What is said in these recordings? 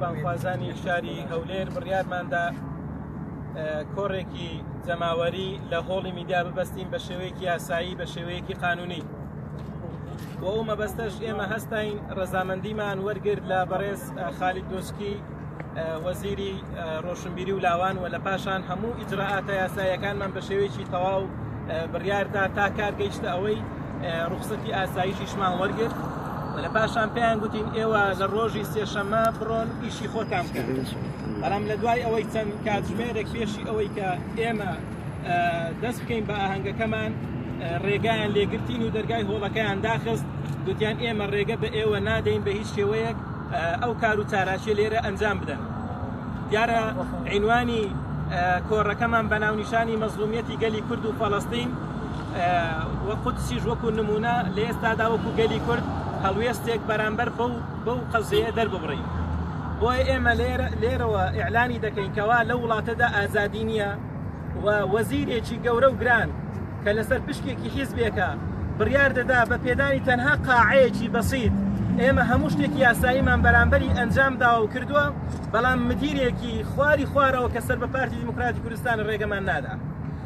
بانگخوازانی شاری هەولێر بڕیارماندا کۆڕێکی جەماوەری لە هۆڵی میدیا ببەستین بە شێوەیەکی یاسایی بە شێوەیەکی قانونی بۆ ئەو مەبەستەش ئێمە هەستین ڕەزامەندیمان وەرگرت لە بەڕێز خالی دۆچکی وەزیری ڕۆشنبیری و لاوان و لە پاشان هەموو ئیجرراعاتە یاسایەکانمان بە شێوەیەکی تەواو بڕیاردا تا کار گەیشتە ئەوەی ڕوخسەتی ئاسایشیشمان وەرگرت لە پاشان پێیان گوتین ئێوە لە ڕۆژی سێشەمە بڕۆن ئیشی خۆتان بکەن بەڵام لە دوای ئەوەی چەند کاتژمێرێک پێشی ئەوەی کە ئێمە دەست بکەین بە ئاهەنگەکەمان ڕێگایان لێگرتین و دەرگای هۆڵەکەیان داخست گوتیان ئێمە ڕێگە بە ئێوە نادەین بە هیچ شێوەیەک ئەو کار و چاراچێ لێرە ئەنجام بدەن دیارە عینوانی کۆڕەکەمان بە ناونیشانی مەزلومیەتی گەلی کورد و فەڵستین و قودسیش وەکو نمونە لە ئێستادا وەکو گەلی کورد هەڵوێستێک بەرامبەر بەو بەو قەزەیە دەرببڕین بۆیە ئێمە لێرەوە ئیعلانی دەکەین کەوا لە وڵاتەدا ئازادی نییە و وەزیرێکی گەورە و گران کە لەسەر پشکێکی حیزبێکە بڕیار دەدا بە پێدانی تەنها قاعەیەکی بەسیت ئێمە هەموو شتێک یاساییمان بەرامبەری ئەنجام داوە و کردووە بەڵام مدیرێکی خواری خوارەوە کە سەر بە پارتی دیموکراتی کوردستان ڕێگەمان نادا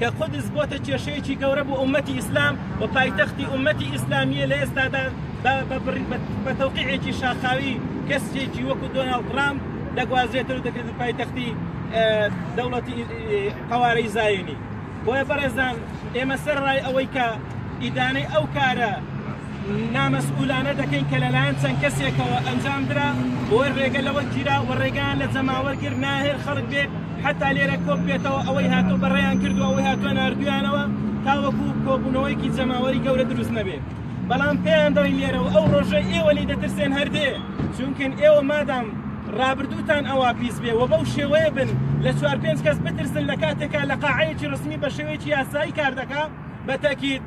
کە قودس بۆتە کێشەیەکی گەورە بۆ ئومەتی ئیسلام و پایتەختی ئومەتی ئیسلامیە لە ئێستادا بە تەوقیعێکی شاخاوی کەسێکی وەکو دۆناڵد ترامپ دەگوازێتەر و دەکرێتە پایتەختی دەوڵەتی قوارەی زایونی بۆیە بەڕێزان ئێمە سەر ڕای ئەوەی کە ئیدانەی ئەو کارە نامەسئولانە دەکەین کە لەلایەن چەند کەسێکەوە ئەنجام درا و رێگە لەوە گیرا و رێگەیان لە جەماوەر گرت ناهێل خەڵک بێت حەتا لێرە کۆک بێتەوە ئەوەی هاتوو بەڕێیان کردوە ئەوەی هاتوە ناردویانەوە تاوەکو کۆبونەوەیەکی جەماوەری گەورە دروست نەبێت بەڵام پێیان دەڵین لێرە و ئەو رۆژەی ئێوە لی دەترسێن هەردێ چونکن ئێوە مادام رابردوتان ئەوا پیس بێ و بەو شێوەیە بن لە چوار پێنج کەس بترسن لە کاتێکا لە قاعەیەکی رسمی بە شێوەیەکی یاسایی کار دەکا بە تەکید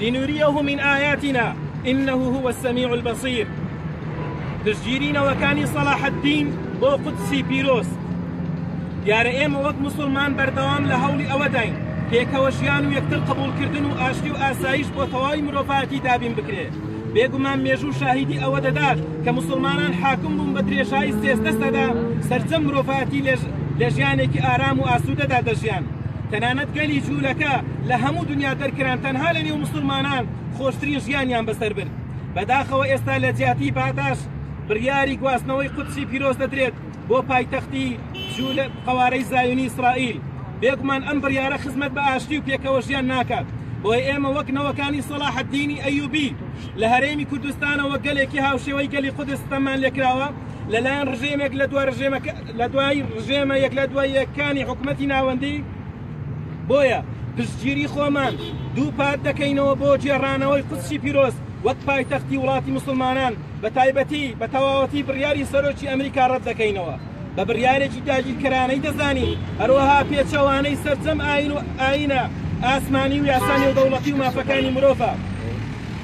لنریه من آیاتنا انه هو السمیع البصیر پشتگیری نەوەکانی سەلاحەدین بۆ قودسی پیرۆز دیارە ئێمە وەک مسلمان بەردەوام لە هەوڵی ئەوەداین پێکەوە ژیان و یەکتر قبولکردن و ئاشتی و ئاسایش بۆ تەواوی مرۆڤاتی دابین بکرێت بێگومان مێژوو شاهیدی ئەوە دەدات کە مسلمانان حاکم بوون بە درێژایی سێزدە سەدا سەرجەم مرۆڤاتی لە ژیانێکی ئارام و ئاسوودەدا دەژیان تەنانەت گەلی جولەکە لە هەموو دنیا دەرکران تەنها لە نێو مسلمانان خۆشترین ژیانیان بەسەر برد بەداخەوە ئێستا لە جیاتی پاتاش بڕیاری گواستنەوەی قودسی پیرۆز دەدرێت بۆ پایتەختی جولە قەوارەی زایونی ئیسرائیل بێگومان ئەم بڕیارە خزمەت بە ئاشتی و پێکەوە ژیان ناکات بۆی ئێمە وەک نەوەکانی سەڵاح الدینی ئەیوبی لە هەرێمی کوردستانەوە گەلێکی هاوشێوەی گەلی قودس ستەممان لێکراوە لەلایەن ڕژێمێک لە دوا ڕژێمەکە لە دوای ڕژێمە یەک لە دوای یەکانی حکوومەتی ناوەندی بۆیە پشتگیری خۆمان دووپات دەکەینەوە بۆ جێڕانەوەی قودسی پیرۆز وەک پایتەختی وڵاتی مسلمانان بە تایبەتی بە تەواوەتی بڕیاری سەرۆکی ئەمریکا ڕەت دەکەینەوە بە بڕیارێکی داگیرکەرانەی دەزانین هەروەها پێچەوانەی سەرجەم ئاین و ئاینە ئاسمانی و یاسا نێودەوڵەتی و مافەکانی مرۆڤە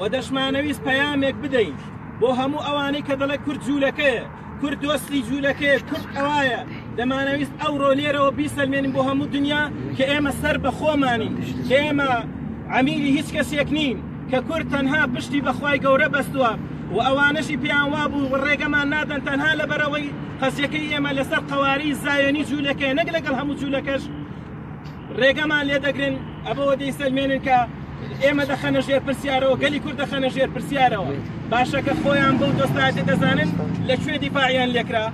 و دەشمانەویست پەیامێک بدەین بۆ هەموو ئەوانەی کە دەڵێ کورد جوولەکەیە کورد دۆستی جوولەکەیە کورد ئەوایە دەمانەویست ئەو ڕۆلێرەوە بیسەلمێنین بۆ هەموو دنیا کە ئێمە سەر بە خۆمانین کە ئێمە عمیلی هیچ کەسێک نین کە کورد تەنها پشتی بەخوای گەورە بەستووە و ئەوانەشی پێیان وابوو و ڕێگەمان نادەن تەنها لەبەرەوەی قەزیەکەی ئێمە لەسەر قەواری زایۆنی جوولەکەیە نەک لەگەڵ هەموو جوولەکەش رێگەمان لێ دەگرن ئەبەوە دەیسەلمێنن کە ئێمە دەخەنە ژێر پرسیارەوە گەلی کورد دەخەنە ژێر پرسیارەوە باشە کە خۆیان بەو دۆستایەتە دەزانن لە کوێ دیفاعیان لێکرا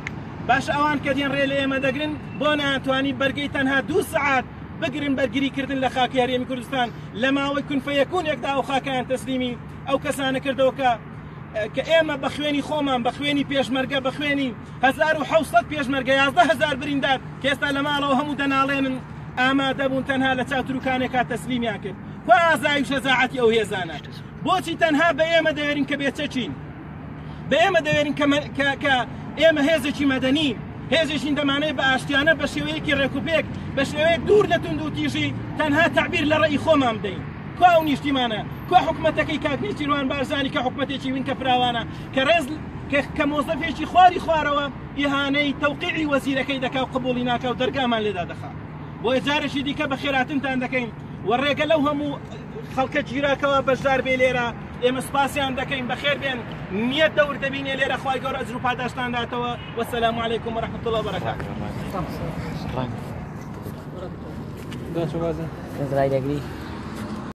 باش ئەوان کە دێن ڕێ لە ئێمە دەگرن بۆ ناتوانانی بەرگەی تەنها دوو سعات بگرن بەرگریکردن لە خاکی هەرێمی کوردستان لە ماوەی کونفەیەکونێکدا و خاکیان تەسلیمی ئەو کەسانە کردەوە کە کە ئێمە بە خوێنی خۆمان بە خوێنی پێشمەرگە بە خوێنی 1970 پێشمەرگە 11000 بریندار کێستا لە ماڵەوە هەموو دەناڵێنن ئامادە بوون تەنها لە چاتروکانێکا تەسلیمیان کرد و ئازای شەزاعەتی ئەو هێزانە بۆچی تەنها بە ئێمە دەوێرین کە بێچەچین بە ئێمە دەوێرین کە ئێمە هێزێکی مەدەنی هێزێکین دەمانێت بە ئاشتیانە بە شێوەیەکی ڕێکوپێک بە شێوەیەک دوور لە تونند و تیژی تەنها تعبیر لە ڕێی خۆمان بدەین کوا ئەو نیشتیمانە؟ کوا حکومەتەکەی کاک نیچیروان بارزانی کە حکومەتێکی وینکە فراوانە کە ڕێز کە مۆزەفێکی خواری خوارەوە ئیهانەی تەوقیعی وەزیرەکەی دەکا و قبولی ناکا و دەرگامان لێدا دەخا بۆ جارێکی دیکە بە خێراتنتان دەکەین و ڕێگە لەو هەموو خەڵکە گیراکەوە بەشدار بێ لێرە ئێمە سپاسیان دەکەین بەخێر بێن نییە دەور دەبینێ لێرە خخوای گەۆر ئەجر و پاداشتان داتەوە وەسەلام عیکم و رحمت الله بەرەکە دەگری